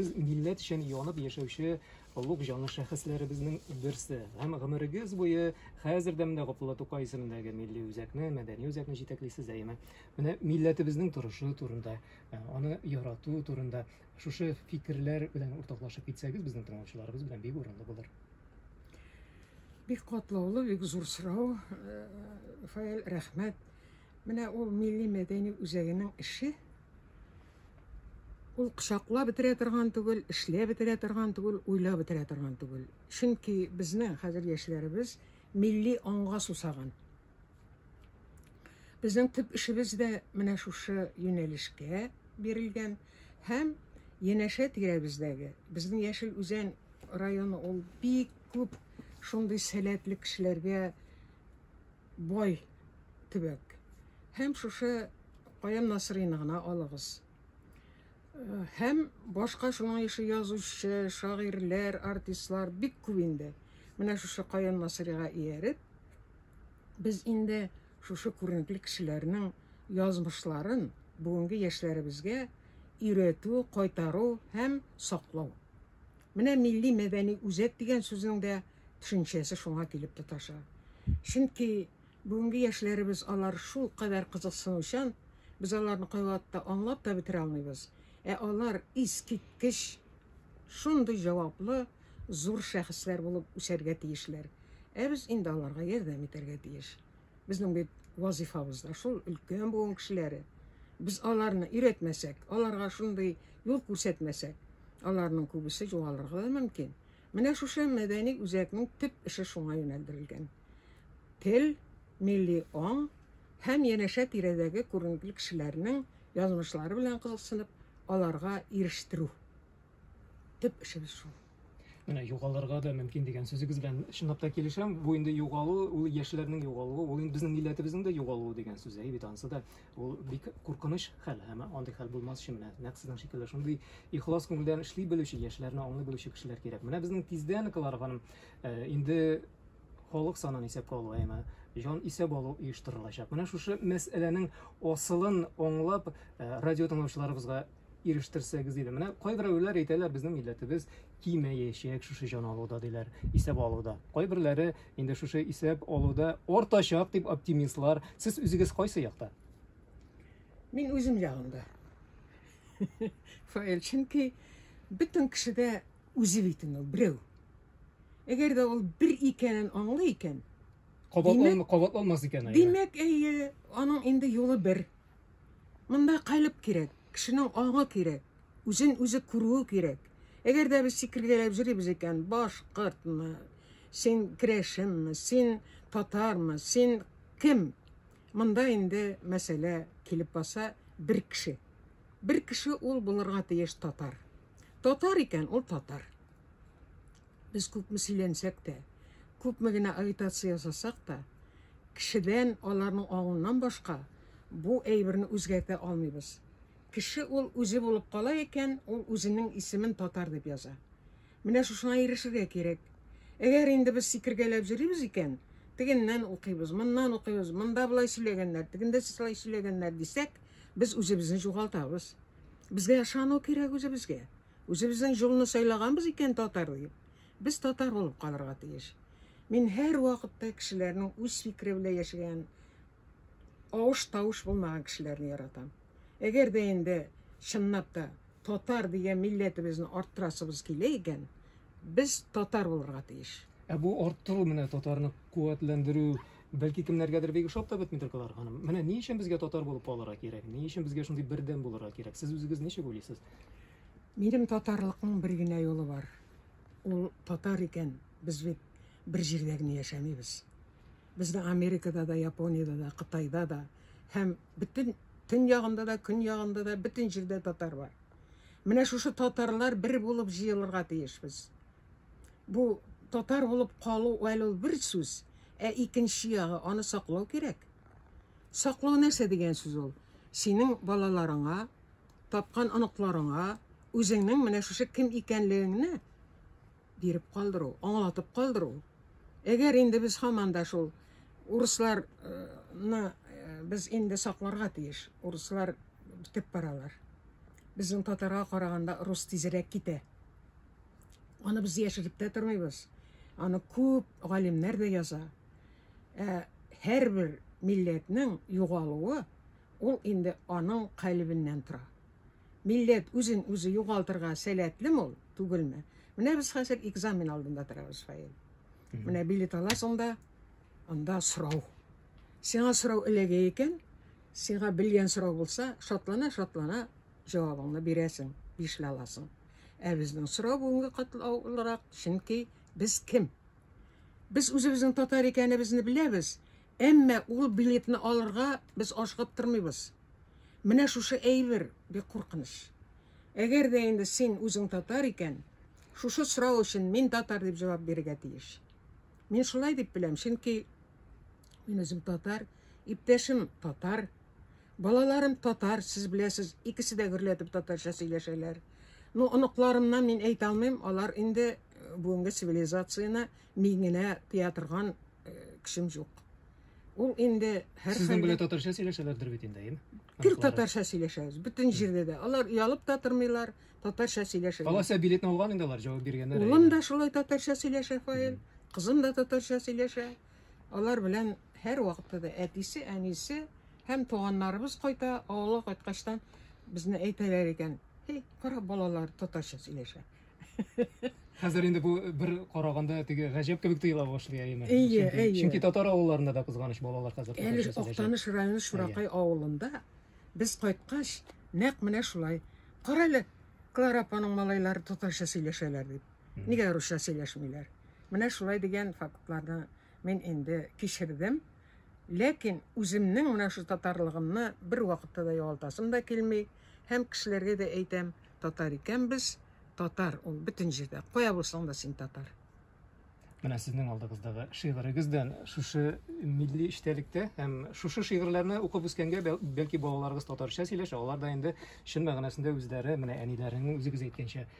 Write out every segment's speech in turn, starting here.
Сез милләт өчен янып яшәүче олуг җанлы шәхесләребезнең берсе һәм гомерегез буе хәзер дә менә Габдулла Тукай исемендәге милли үзәкне, мәдәни үзәкне җитәклисез, әйеме? Менә милләтебезнең торышы турында, э, аны ярату турында шушы фикерләр белән уртаклашып китсәгез безнең тыңлаучыларыбыз белән бик урынлы булыр. Бик катлаулы, бик зур сорау. Э, Фаил, рәхмәт. Менә ул милли мәдәни үзәгенең эше. Ул кочаклап бетерә торган түгел, эшләп бетерә торган түгел, уйлап бетерә торган түгел. Чөнки безнең хәзер яшьләребез милли аңга сусаган. Безнең төп эшебез дә менә шушы юнәлешкә бирелгән һәм янәшә тирәбездәге безнең Яшел Үзән районы ул бик күп шундый сәләтле кешеләргә Бай төбәк. Һәм шушы Каян Насыйрыйны гына алыгыз. Һәм башка шуның ише язучы, шагыйрьләр, артистлар бик күп инде. Менә шушы Каян Насыйрига ияреп, без инде шушы күренекле кешеләрнең язмышларын бүгенге яшьләребезгә өйрәтү, кайтару һәм саклау. Менә милли-мәдәни үзәк дигән сүзнең дә төшенчәсе шуңа килеп тоташа. Чөнки бүгенге яшьләребез алар шулкадәр кызыксынучан, без аларны кайвакытта аңлап та бетерә алмыйбыз, ә алар искиткеч шундый җаваплы, зур шәхесләр булып үсәргә тиешләр, ә без инде аларга ярдәм итәргә тиеш. Безнең бит вазыйфабыз да шул, өлкән буын кешеләре. Без аларны өйрәтмәсәк, аларга шундый юл күрсәтмәсәк, аларның күбесе югалырга да мөмкин. Менә шушы мәдәни үзәкнең төп эше шуңа юнәлдерелгән. Тел, милли аң һәм янәшә тирәдәге күренекле кешеләрнең язмышлары белән кызыксынып, аларга ирештерү. Төп эшебез шул. Менә югалырга да мөмкин дигән сүзегез белән чынлап та килешәм. Бу инде югалу, ул яшьләрнең югалуы, ул инде безнең милләтебезнең дә югалуы дигән сүз. Әй бит ансы да ул бик куркыныч хәл. Һәм андый хәл булмас өчен менә нәкъ сезнең шикелле шундый ихлас күңелдән эшли белүче, яшьләрне аңлый белүче кешеләр кирәк. Менә безнең тиздән клар ханым э, инде халык санын исәпкә алу әйме җан исәп алу оештырылачак. Менә шушы мәсьәләнең асылын аңлап, э, радио тыңлаучыларыбызга ирештерсәгез иде. Менә кайберәүләр әйтәләр, безнең милләтебез кимәячәк шушы җан алуда диләр, исәп алуда. Кайберләре инде шушы исәп алуда артачак дип оптимистлар. Сез үзегез кайсы якта? Мин үзем ягында. Фаил, чөнки бөтен кешедә үзе бит ул берәү. Әгәр дә ул бер икәнен аңлый икән, кабатланмас икән. Димәк, әйе, аның инде юлы бер. Монда калеб кирәк, кешенең аңы кирәк, үзен үзе күрүе кирәк. Әгәр дә без сикергәләп җөрибез икән, башкортмы, син керәшенме, син татармы, син кем? Монда инде мәсьәлә килеп баса бер кеше. Бер кеше ул булырга тиеш татар. Татар икән, ул татар. Без күпме сөйләнсәк тә, күпме генә агитация ясасак та, кешедән аларның аңыннан башка бу әйберне үзгәртә алмыйбыз. Кеше ул үзе булып кала икән, ул үзенең исемен татар дип яза. Менә шушыңа ирешергә кирәк. Әгәр инде без сикергәләп йөрибез икән, тегеннән укыйбыз, моннан укыйбыз, монда болай сөйләгәннәр, тегендә шулай сөйләгәннәр дисәк, без үзебезне югалтабыз. Безгә ышану кирәк үзебезгә. Үзебезнең җолны сайлаганбыз икән татар дип, без татар булып калырга тиеш. Мин һәр вакытта кешеләрнең үз фикере белән яшәгән, авыш-тавыш булмаган кешеләрне яратам. Әгәр дә инде чынлап та татар дигән милләтебезне арттырасыбыз килә икән, без татар булырга тиеш. Ә бу арттыру менә татарны куәтләндерү, Бәлки кемнәргәдер бик ошап та бетмидер, Клара ханым. Менә ни өчен безгә татар булып калырга кирәк? Ни өчен безгә шундый бердәм булырга кирәк? Сез үзегез ничек уйлыйсыз? Минем татарлыкның бер генә юлы бар. Ул татар икән, без бит бер җирдә генә яшәмибез. Без дә Америкада да, Япониядә дә, Кытайда да һәм бөтен төньягында да, көньягында да бөтен җирдә татар бар. Менә шушы татарлар бер булып җыелырга тиешбез. бу татар булып калу әле ул бер сүз, ә икенче ягы аны саклау кирәк. Саклау нәрсә дигән сүз ул? Синең балаларыңа, тапкан оныкларыңа үзеңнең менә шушы кем икәнлегеңне биреп калдыру, аңлатып калдыру. Әгәр инде без һаман да шул урысларны э, без инде сакларга тиеш. Урыслар бетеп баралар. Безнең татарга караганда рус тизрәк китә. Аны без яшереп тә тормыйбыз. Аны күп галимнәр дә яза. Ә һәрбер милләтнең югалуы ул инде аның калебеннән тора. Милләт үзен үзе югалтырга сәләтле мул түгелме? Менә без хәзер экзамен алдында торабыз, Фаил. Менә билет аласың да, анда сорау. Сиңа сорау эләгә икән, сиңа белгән сорау булса, шатлана-шатлана җавабыңны бирәсең, ишли аласың. Ә безнең сорау бүгенге катлаулырак, чөнки без кем? Без үзебезнең татар икәнебезне беләбез, әмма ул билетны алырга без ашыгып тормыйбыз. Менә шушы әйбер бик куркыныч. Әгәр дә инде син үзең татар икән, шушы сорау өчен мин татар дип җавап бирергә тиеш. Мин шулай дип беләм, чөнки мин үзем татар, иптәшем татар, Балаларым татар, сез беләсез, икесе дә гөрләтеп татарча сөйләшәләр. Ну, оныкларымнан мин әйтә алмыйм, алар инде э, бүгенге цивилизацияне миңенә тыя торган э, кешем юк. Ул инде һәр Сезнең белән татарча сөйләшәләрдер бит инде, әйеме? Гел татарча сөйләшәбез, бөтен җирдә дә. Алар ялып та тормыйлар, татарча сөйләшәләр. Аласа билетны алган инде алар, җавап биргәннәр. Улым да шулай татарча сөйләшә, Фаил. Кызым да татарча сөйләшә. Алар белән һәрвакытта да әтисе, әнисе һәм туганнарыбыз кайта, авылга кайткачтан безне әйтәләр икән, Эй, кара балалар татарча сөйләшә. Хәзер инде бу бер караганда теге гаҗәп кебек тоела башлый әйеме? Әйе, әйе. Чөнки татар авылларында да кызганыч балалар хәзер татарча сөйләшә. Әле Актаныш районы Шуракай авылында без кайткач, нәкъ менә шулай. Кара әле, Клара апаның малайлары татарча сөйләшәләр дип. Нигә русча сөйләшмиләр? Менә шулай дигән фактларны мин инде кичердем. Ләкин үземнең менә шул татарлыгымны бервакытта да югалтасым да килми. Һәм кешеләргә дә әйтәм, татар икән без, татар ул бөтен җирдә. Кая булсаң да син татар. Менә сезнең алдыгыздагы шигырегездән шушы милли эчтәлектә һәм шушы шигырьләрне укып үскәнгә бәлки балаларыгыз татарча сөйләшә, алар да инде чын мәгънәсендә үзләре, менә әниләренең үзегез әйткәнчә,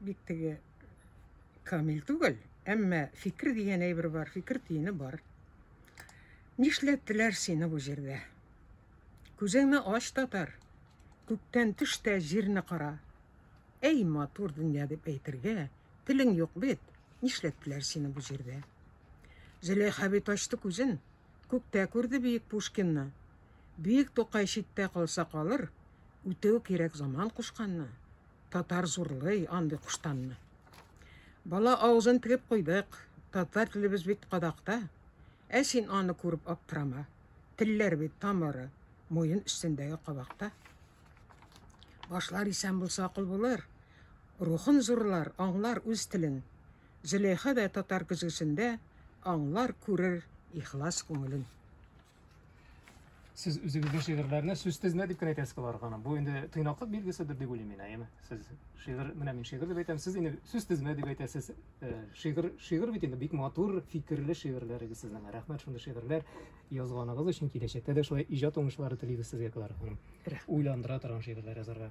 Бит теге камил түгел, әмма фикер дигән әйбер бар, фикер тиене бар. Нишләттеләр сине бу җирдә? Күзеңне ач татар, күктән төш тә җирне кара. Әй матур дөнья дип әйтергә, телең юк бит, нишләттеләр сине бу җирдә? Зөләйха бит ачты күзен, күктә күрде биек Пушкинны. Биек Тукай читтә калса калыр, үтүе кирәк заман кушканны. Татар зурлый андый куштанны. Бала авызын тегеп куйдык. Татар телебез бит кадакта. Ә син аны күреп аптырама. Телләр бит тамыры, муен өстендәге кабакта. Башлар исән булса акыл булыр. Рухын зурлар, аңлар үз телен. Зөләйха да татар көзгесендә аңлар, күрер ихлас күңелен. Сез үзегездә шигырьләрне сүзсез нә дип кенә әйтәсез алар гына. Бу инде тыйнаклык билгеседер дип уйлыйм мин, әйеме? Сез шигырь, менә мин шигырь дип әйтәм, сез инде сүзсез нә дип әйтәсез. Э, шигырь, шигырь бит инде бик матур фикерле шигырьләрегез сезнең. Рәхмәт шундый шигырьләр язганыгыз өчен. Киләчәктә дә шулай иҗат уңышлары телибез сезгә, Клара ханым. Уйландыра торган шигырьләр язарга.